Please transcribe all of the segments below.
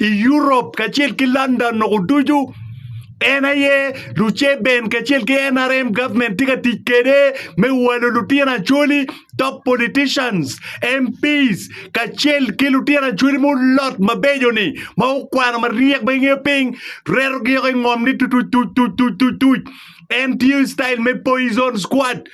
i Europe kacel ki London noko ducu en aye Luceben kacel ki NRM government tye ka tic kwede me walo lutino acholi top politicians MPs kacel ki lutino acholi mulot mabeco-ni ma okwano maryek ma ingeyo piny retogi oko i ngom ni tutuc tuc tuc tuc tuc tuc en tiyo i style me poison squad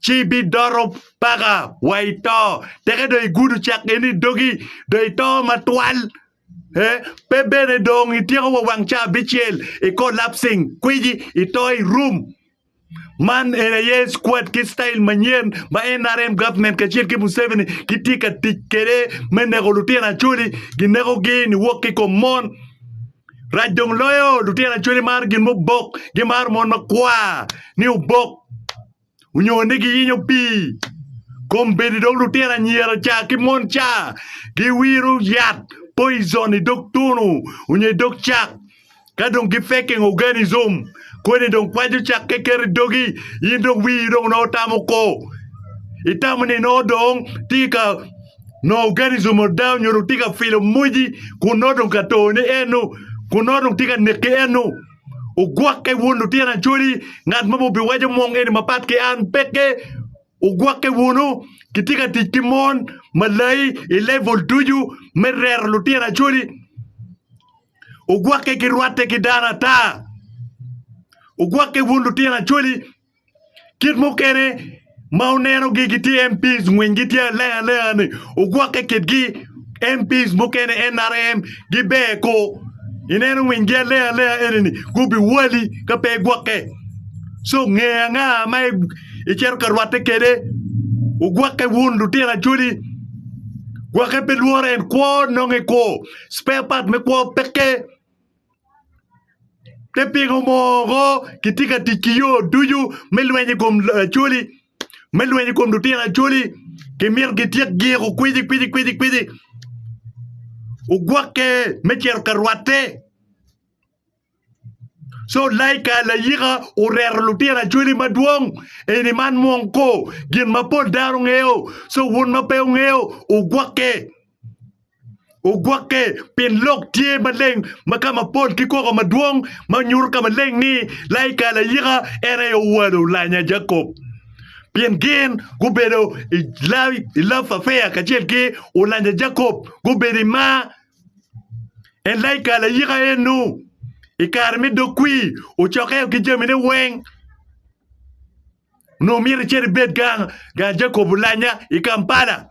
ci ibidoto paka wa i to, teke dong igudo cak geni i dogi, dong ito matwal. Eh, pe bene dong ityeko wa wang ca abicel i collapsing, kwiji, ito i room. Man en aye squad ki style manyen ma NRM government kacel ki Museveni gitye ka tic kede me neko lutino Acholi, gineko gi niwok ki kom mon. Rac dong loyo lutino Acholi maro gin mubok, gimaro mon makwar ni obok. onyo ni giyinyo pii kombeddi dong lutino anyira ca ki mon ca giwiro yat poison i dog tunu onyo i dog cak ka dong gi faking organism kodi dong kwaco cakke keto i dogi in dong wii dong nongo tamo ko itamo ni nongo dong tye ka nongo organism oda onyo dong tye ka filo moji kun nongo dong ka tone eno kun nongo dong tye ka neki eno. Ogwokke wun lutino acholi, ngat ma biwaco mong eni mapat ki an peke. Ogwokke wunu, kitye ka tic ki mon malayi i level ducu me rero lutino acholi. Ogwokke ki rwatte ki dano ata. Ogwokke wun lutino acholi, Kit mukene ma onenogi gitye MPs ngwinygi tye aleng alenga ni ogwokke kitgi MPs mukene NRM giber ko ineno ngwinygi aleng alenga enini gubiwali ka pe igwokke so nge anga ma icito ka rwatte kwede ogwokke wun lutino acholi gwokke pe lworo en kwo nongo ikwo spare part me kwo peke. Pi pingo mogo kitye ka tic ki yo ducu me lweny i kom Acholi, me lweny i kom lutino Acholi. Kimito gityek giko kweci kweci kweci kweci. Ogwokke me cito ka rwatte. Co laika layika oreto lutino Acholi madwong eni man mwong ko gin mapol dano ngeyo. Co wun ma pe wungeyo ogwokke. Ogwokke pien lok tye maleng ma ka mapol ki koko madwong ma nyuto ka maleng ni laika layika en aye owalo lanya Jacob. Pien gin gubedo i lawi i love affair kacel ki olanya Jacob gubedo i mar. En laika layika eno i kare me dog kwi ocokeo ki jamine weng onongo myero icit ibed gang gang Jacob olanya i Kampala.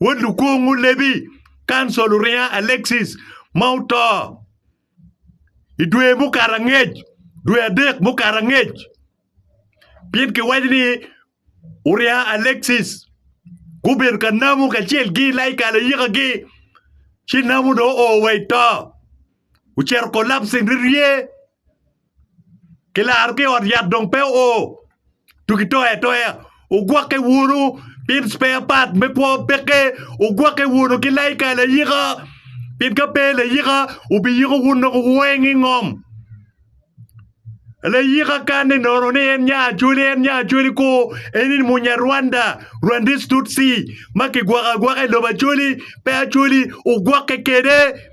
Wod lukungu lebi kancil Uringa Alexis ma oto i dwe mukato angec dwe adek mukato angec pien kiwaco ni Uringa Alexis gubedo ka namo kacel ki laika layikagi ci namo dong oo wa i to ocito collapsing rye. Kilaro ki i ot yat dong pe oo tuki toyo atoya ogwokke wunu pien spare part me kwo peke ogwokke wunu ki laika layika pien ka pe layika obiyiko wun dong weng i ngom layika kan ni nono ni en nya acholi en nya acholi kor en ni munyarwanda rwandis tutsi ma kigwoko agwoka i lobo acholi pe acholi ogwokke kwede.